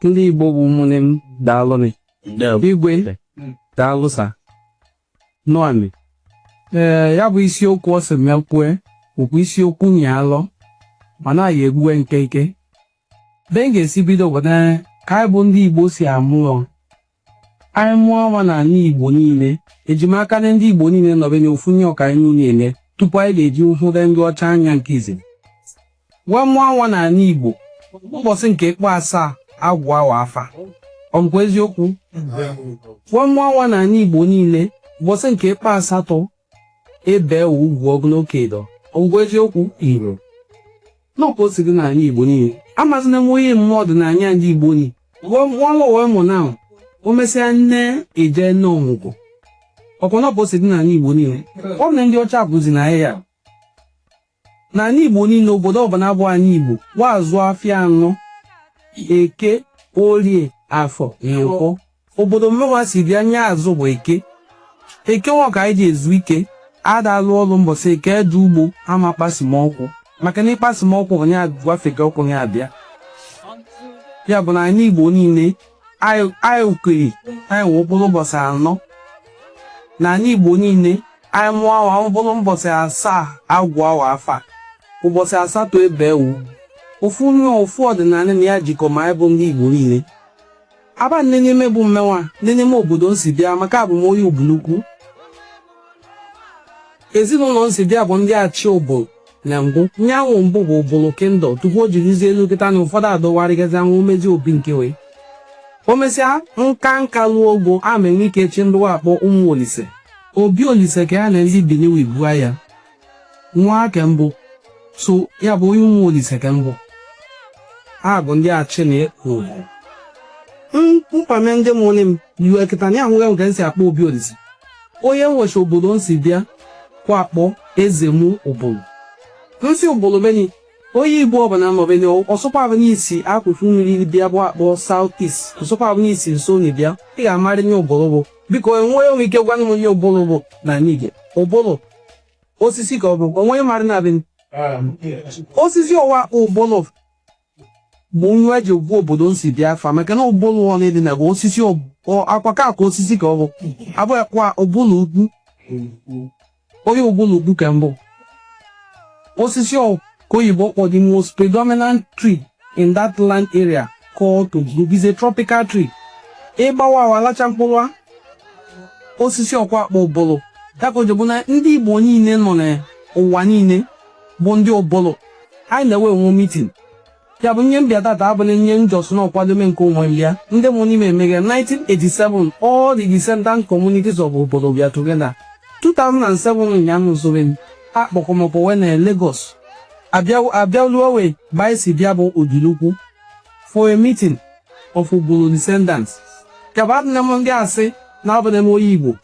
Ndị Igbo bụ ụmụnne m daalụnị. Igwe daalụ sa. Nụanị. Ee, ya bụ isiokwu ọ sị m kwue bụkwa isiokwu nyị alọ mana anyị egbue nkenke. Be m ga-esi bido bụ na ka anyị bụ ndị Igbo si amụ Anyị mụọ nwa n'ala Igbo niile, e ji maka na ndị Igbo niile nọbe n'ofu nye ọka anyị niile eme tupu anyị ga-eji hụde ndị ọcha anya nke izizi wee mụọ nwa n'ala Igbo mbọsị nke ịkpọ asaa a gụa wa afa ọ bụkwa eziokwu wee mụọ nwa n'ala Igbo niile mbọsị nke ịkpọ asatọ e bee ugwu ọ bụ nwoke ịdọ ọ bụkwa eziokwu iro n'ọkwa o si dị n'ala igbo niile amazina m onye mmụọ ọdịnanị ndị igbo ni nwanwa wee mụ nwa o mesịa nne eje ne ọmụgwọ ọkwa n'ọkwa o si dị n'ala igbo niile ọ bụ na ndị ọcha kuzili anyị ya N'ala Igbo niile, obodo ọbụla bụ ala Igbo wa azụ afịa anọ, Eke, Orie, Afọ, Nkwọ. Obodo mụnwa si bịa ihe azụ bụ Eke. Eke nwa ka anyị ji ezu ike. Ada alụ ọlụ mbọsị Eke eje ugbo ama kpasi m ọkwụ maka na ịkpasi m ọkwụ nya gbafega okwu nya abịa. Ya bụ na ala Igbo niile, anyị anyị kwere anyị wụ mkpụrụ ụbọchị anọ. N'ala Igbo niile, Anyị mụọ nwa, ọ bụrụ mbọsị asaa a gụa wa afa, ụbọchị asatọ e bee wa ugwu. Ofu ihe ofu ọdịnala na ya jikọ ma anyị bụ ndị Igbo niile. Aba nne n'ime bụ mmenwa nne n'ime obodo m si bịa maka abụ m onye Ubulu Ukwu. Ezinụlọ m si bịa bụ ndị achị Ubulu na mbụ nyanwụ mbụ bụ Ubulu kingdom tupu o jirizie elu kịta na ụfọdụ adọwarịgazi anwụ omezi obi nke wee o mesịa nka nka ruo ogo a ma enwe ike chi ndị wa akpọ Ụmụ Olise Obi Olise ka ya na ndị Bini wee bu aya nwa a ka m bụ so ya bụ onye Ụmụ Olise ka m bụ ha bụ ndị achị na ekwu mkpame ndị mụrụ m Iwe kịta na ahụghị m ka m si akpọ Obi Olise onye nwechi obodo m si bịa ka akpọ Ezemu Ubulu m si Ubulu beni onye igbo ọbụla nọ beni ọ sọkwa abụ n'isi akụkụ nri bịa bụ akpọ South East ọ sọkwa abụ n'isi nso na bịa ị ga-amarị ihe Ubulu bụ biko enweghị onye nwe ike gwanụ m ihe Ubulu bụ na nige Ubulu osisi ka ọ bụ onweghị marị na beni osisi ọwa Ubulu bụ nwa e ji gụa obodo m si bịa afa maka na Ubulu ọ na-edi na gwa osisi ọ- ọ- akwa ka akwa osisi ka ọ bụ abụ akwa Ubulu Ukwu onye Ubulu Ukwu ka m bụ osisi ọ ka oyibo kpọ the most predominant tree in that land area called Ogbu is a tropical tree ị gbawaa wa alacha mkpụrụ a osisi ọkwa akpọ Ubulu ya ka o ji bụ na ndị igbo niile nọ n'ụwa niile bụ ndị Ubulu anyị na wa enwe mitin ya bụ ihe m bịa tata abụna ihe m just na ọkwadome nke onwe m ya ndị mụ n'ime emeghe 1987 all the descendant communities of Ubulu bịa together 2007 nya nụzụrụ m akpọkọmọkọ wa na Lagos abịaluo wa be anyị si bịa bụ Ubulu-Ukwu for a meeting of Ubulu descendants ya bụ adịna m ndị asị na abụna m onye Igbo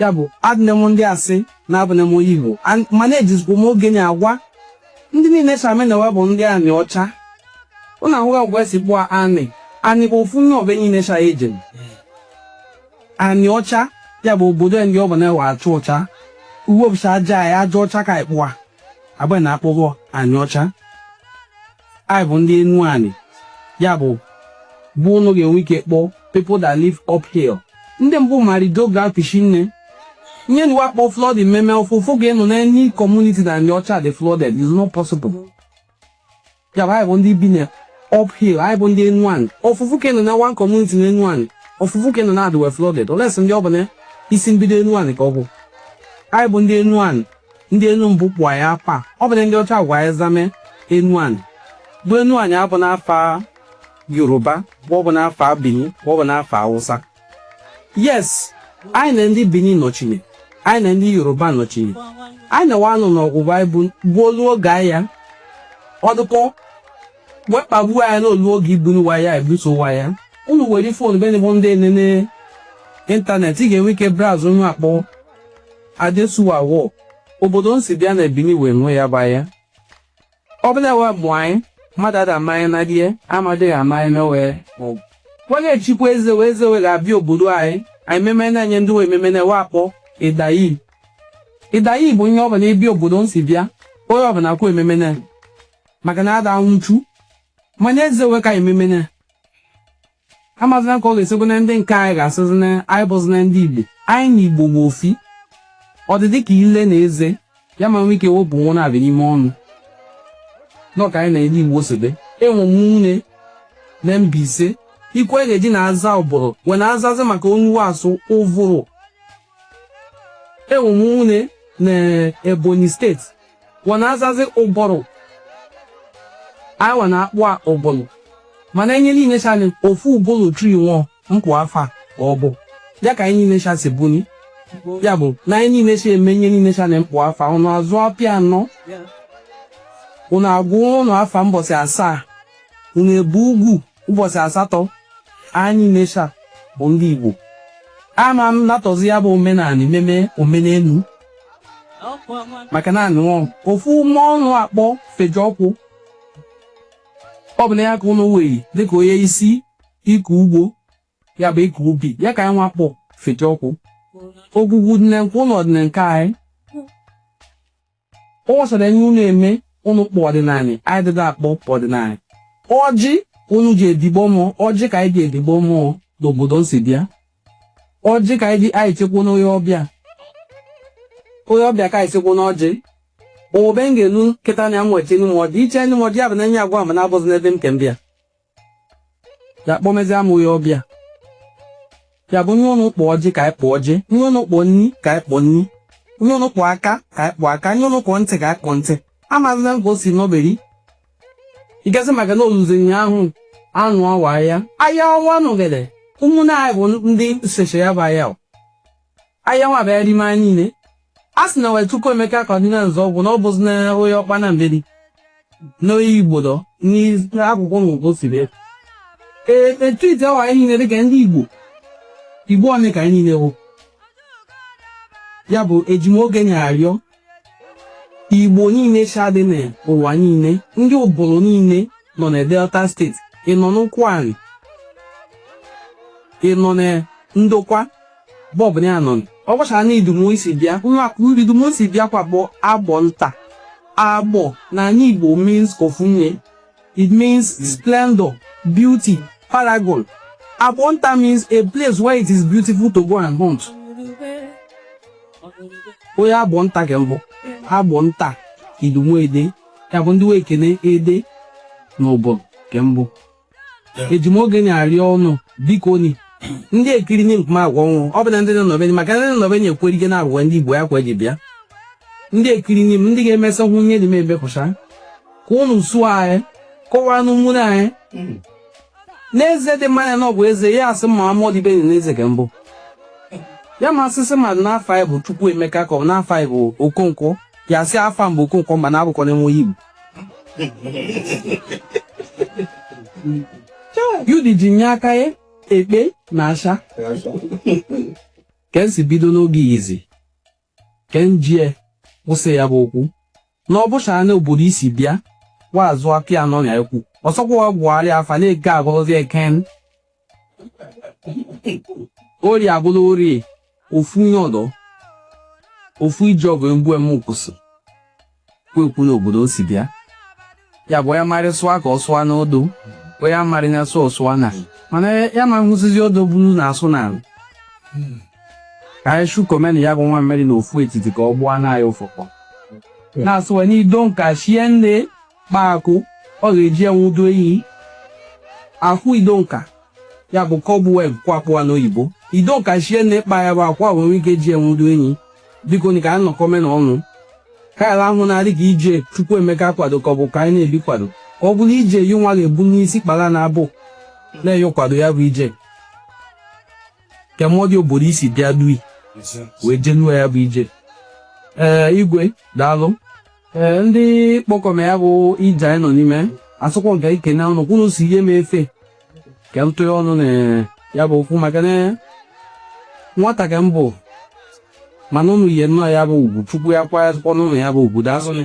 ya bụ adịne m ndị asị na abụne m onye Igbo mana ejizikwa m oge na agwa ndị niile cha ma na wa bụ ndị Anịọcha ụnụ ahụghị agwa esi kpọọ anị anị bụ ofu n'ebe niile cha eje na Anịọcha ya bụ obodo ndị ọ bụ na wa acha ọcha uwe ọbụcha aja ya aja ọcha ka ịkpụa agba na akpọghọ Anịọcha anyị bụ ndị Enuani ya bụ bụ ụnụ ga-enwe ike kpọọ people that live uphill ndị mbụ marido ga-apịchi nne ihe na wa akpọ flooding mmemme ọfụfụ ga-enụ na any community na Anịọcha dị flooded is not possible Ya bụ anyị bụ ndị bi na uphill anyị bụ ndị Enuani ofufu ka anụ na one community na Enuani ofufu ka anụ na adị wa flooded unless ndị ọ bụ na isi mbido Enuani ka ọ bụ anyị bụ ndị Enuani ndị enu mbụ kpọ anyị afa ọ bụna ndị ọcha gwa anyị zama Enuani bụ Enuani abụna afa Yoruba bụ ọ bụna afa Benin bụ ọ bụna afa Hausa yes anyị na ndị Bini nọchiri anyị na ndị Yoruba nọchiri anyị na wa nọ n'ọgụ anyị bụ gbuolu oge anyị ya ọdụkọ wee kpagbuo anyị n'olu oge ibunu wa aya ebuso wa aya unu were fon be bụ ndị enene ịntanetị ị ga-enwe ike browse ihe wa akpọ Adesuwa War obodo m si bịa na Bini wee nwe ya ba ya Ọbụla wee mụọ anyị, mmadụ ada amaghị na die amadịghị amaghị na wee mụọ. Wa ga-echikwa eze wa eze wa ga-abịa obodo anyị, anyị meme na-enye ndị wa ememe na wa akpọ ịdayi. Ịdayi bụ onye ọbụla ebi obodo m si bịa, onye ọbụla kwa ememe na maka na ada anwụchu. Mana eze wa ka anyị ememe na amazina ka ọ ga-esi bụ na ndị nke anyị ga-asịzi na anyị abụzina ndị Igbo anyị na Igbo bụ ofu ọ dị dịka ile na eze ya ama nwee ike wepụ nwa na-abịa n'ime ọnụ n'ọka anyị na ndị Igbo sobe enwe m ụmụnne na Mbaise ikwe ga-eji na aza Ubulu wa na azazi maka ihe wa asụ Uvuru enwe m ụmụnne na Ebonyi steeti wa na azazi Uburu anyị wa na akpọ a Uburu mana ihe niile cha anyị ofu Ubulu tree nwụọ mkpụ afa ka ọ bụ ya ka anyị niile cha si buni ya bụ na anyị niile cha eme ihe niile cha na mkpụ afa ụnụ azụ afịa anọ ụnụ agụ ụnụ afa mbọsị asaa ụnụ ebu ugwu Ụbọchị asatọ anyị ncha bụ ndị Igbo ama m natọzi ya bụ omenanị meme omenelu maka na anụọ ofu mmụọ ụnụ akpọ Fejiọkụ ọ bụ na ya ka ụnụ wee dịka onye isi ịkọ ugbo ya bụ ịkọ ubi ya ka anyị nwa kpọ Fejiọkụ ogwugwu dị na nke ụnụ dị na nke anyị Ọ gbasara enye unu eme unu kpọ ọdịnanị, anyị dịda akpọ ọdịnanị. Ọjị unu ji edigbo mmụọ, ọjị ka anyị ji edigbo mmụọ n'obodo m si bịa. Ọjị ka anyị ji anyị chekwa n'onye ọbịa. Onye ọbịa ka anyị chekwa n'ọjị. Owebe m ga-elu kịta na ya m wee chenị m ọjị. Ichenị m ọjị ya bụ na enye agwa ma na-abụzi n'ebe m ke m bịa. ya kpọmezi amụghị ọbịa ya bụ nye ụnụ kpọ ọjị ka anyị kpọ ọjị nye ụnụ kpọọ nni ka anyị kpọọ nni nye ụnụ kpọọ aka ka anyị kpọọ aka nye ụnụ kpọọ ntị ka anyị kpọọ ntị amazina m ka o si nọberi ịgasị maka na oluzi ụnyaahụ anụwa aya aya nwa anụgide ụmụnne anyị bụ ndị seche ya bụ aya aya nwa bịa rime anyị niile a sị na wee Chukwuemeka Kaduna Nzeogwu na ọ bụzi na onye Ọkpanam beri n'onye Igbodo n'akụkụ ngụgụ si bịa ee etiti awa anyị niile dịka ndị igbo igbo ọnị ka anyị niile wụ ya bụ eji m oge nị arịọ Igbo niile sha dị n'ụwa niile, ndị obodo niile nọ na Delta steeti, ị nọ n'Ụkwụanị, ị nọ na Ndokwa be ọbụna ị nọ ọ gwachara na Idumu m si bịa nwa Idumu m si bịa kwa bụ Agbọnta Agbọ na anị Igbo means ofu nye It means splendor, beauty, paragon. Agbonta means a place where it is beautiful to go and hunt. Onye Agbonta ka m bụ, Agbonta Idumu Ede, ya bụ ndị wee kene Ede na Obom ka m bụ. Eji m oge nị arịọ ụnụ biko nị ndị ekiri nị nkuma agwa ọnwụ ọ bụ na ndị nọ n'obenye maka ndị nọ n'obenye ekwere ike na-agwa ndị Igbo ya kwa eji bịa ndị ekiri nị m ndị ga-emesa hụ nye dị m ebe kụcha ka unu soo anyị kọwaa n'ụmụnne anyị hmm. n'Eze Chima nya na ọ bụ eze ya asị ma amụọ dị Benin n'eze ka mbụ ya ma asịsị mmadụ n'afa ya bụ Chukwuemeka ka ọ bụ n'afa ya bụ Okonkwo ya asị afa m bụ Okonkwo mba na abụkọ m nwa Igbo yudi ji nye aka ya ekpe na asha ka m si bido n'oge izi Ke m jie kwụsị ya bụ okwu na ọ bụcha na obodo isi bịa wa azụ aka ya nọ na ekwu ọsọkwa wa gwụgharị afa na Eke agụrụzi Eken Ori agụla Ori ofu nye ọdọ ofu ije ọbụ egbu eme ụkwụsị kwuekwu n'obodo o si bịa ya bụ onye marị sụwa ka ọ sụwa n'odo onye amarị na-asụ ọ sụwa n'ana mana anyị ama nhụzizi odo buru na-asụ n'ala ka anyị shụkọmenị ya bụ nwamịrị na ofu etiti ka ọ gbụọ na anyị ụfụfụ na-asụwa n'ido nka shie nne kpaa akwụ ọ ga-eji enwudo ehi ahụ ido nka ya bụ cobweb ka a kpọ ya n'oyibo ido nka shie nne kpaa ya bụ akwa wee nwee ike ji enwudo enyi biko ni ka anyị nọkọmenị ọnụ ka ala ahụ na-adị ka ije chukwuemeka kwado ka ọ bụ ka anyị na-ebi kwado ka ọ bụrụ ije yi nwa ga-ebu n'isi kpara na abụ na-eyo kwado ya bụ ije kemọdị obodo i si bịa dui wee jenuo ya bụ ije ee igwe daalụ ee ndị kpọkọma ya bụ ije anyị nọ n'ime asụkwọ nke ike na ọnụ kwụrụ sị nye m efe ka m tụọ ọnụ na ya bụ okwu maka na nwata ka m bụ mana ụnụ yi nnọọ ya bụ ugwu chukwu ya kwa ya tụkwa ụnụ ya bụ ugwu dasụnụ